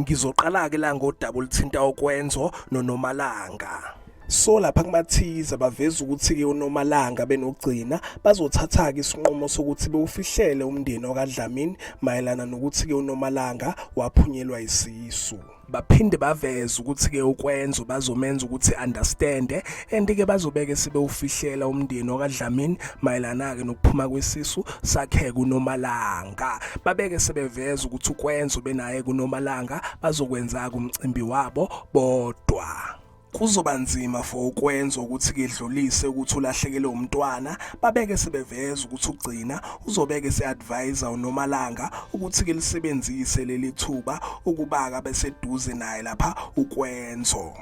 Ngizoqala-ke la ngodaba oluthinta ukwenzo noNomalanga. So lapha kumathiza baveza ukuthi-ke uNomalanga benokugcina bazothatha-ke isinqumo sokuthi bewufihlele umndeni wakaDlamini mayelana nokuthi-ke uNomalanga waphunyelwa isisu baphinde baveze ukuthi-ke ukwenzo bazomenza ukuthi understande and-ke bazobeke sebewufihlela umndeni wakaDlamini mayelana-ke nokuphuma kwesisu sakheke uNomalanga Nomalanga babeke sebeveza ukuthi ukwenza ubenaye kuNomalanga bazokwenza kumcimbi wabo bodwa kuzoba nzima for ukwenza ukuthi kedlulise ukuthi ulahlekele umntwana babeke sebeveza ukuthi ugcina uzobeke seadvisor uNomalanga ukuthi ke lisebenzise leli thuba ukubaka beseduze naye lapha ukwenzo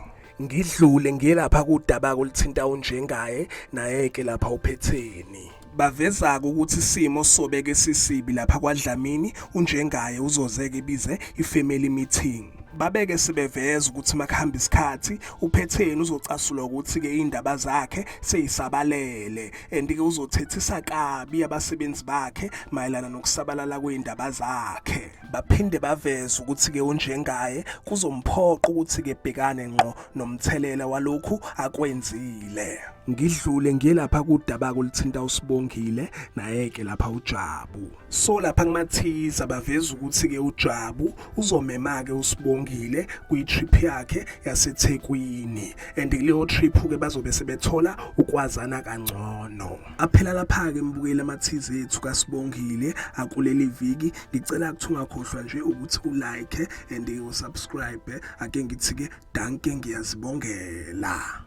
ngidlule ngiyelapha kudaba kolithinta unjengaye naye ke lapha uphetheni Baveza-ke ukuthi isimo sobeke sisibi lapha kwaDlamini, unjengaye uzozeke ibize i-family meeting. Babeke sebeveza ukuthi makuhamba isikhathi uphetheni uzocasulwa ukuthi-ke iy'ndaba zakhe seyisabalele and-ke uzothethisa kabi abasebenzi bakhe mayelana nokusabalala kwey'ndaba zakhe. baphinde baveze ukuthi-ke unjengaye kuzomphoqa ukuthi-ke bhekane ngqo nomthelela walokhu akwenzile ngidlule ngiye lapha kudaba kolithinta usibongile naye-ke lapha ujabu so lapha kumathiza baveza ukuthi-ke ujabu uzomema-ke usibongile kwi-trip yakhe yasethekwini and kuleyo trip-ke bazobe sebethola ukwazana kangcono Aphela lapha-ke mbukeli amathize ethu kaSibongile akuleli viki. Ngicela ukuthi ungakhohlwa nje ukuthi ulike and usubscribe. Ake ngithi-ke danke ngiyazibongela.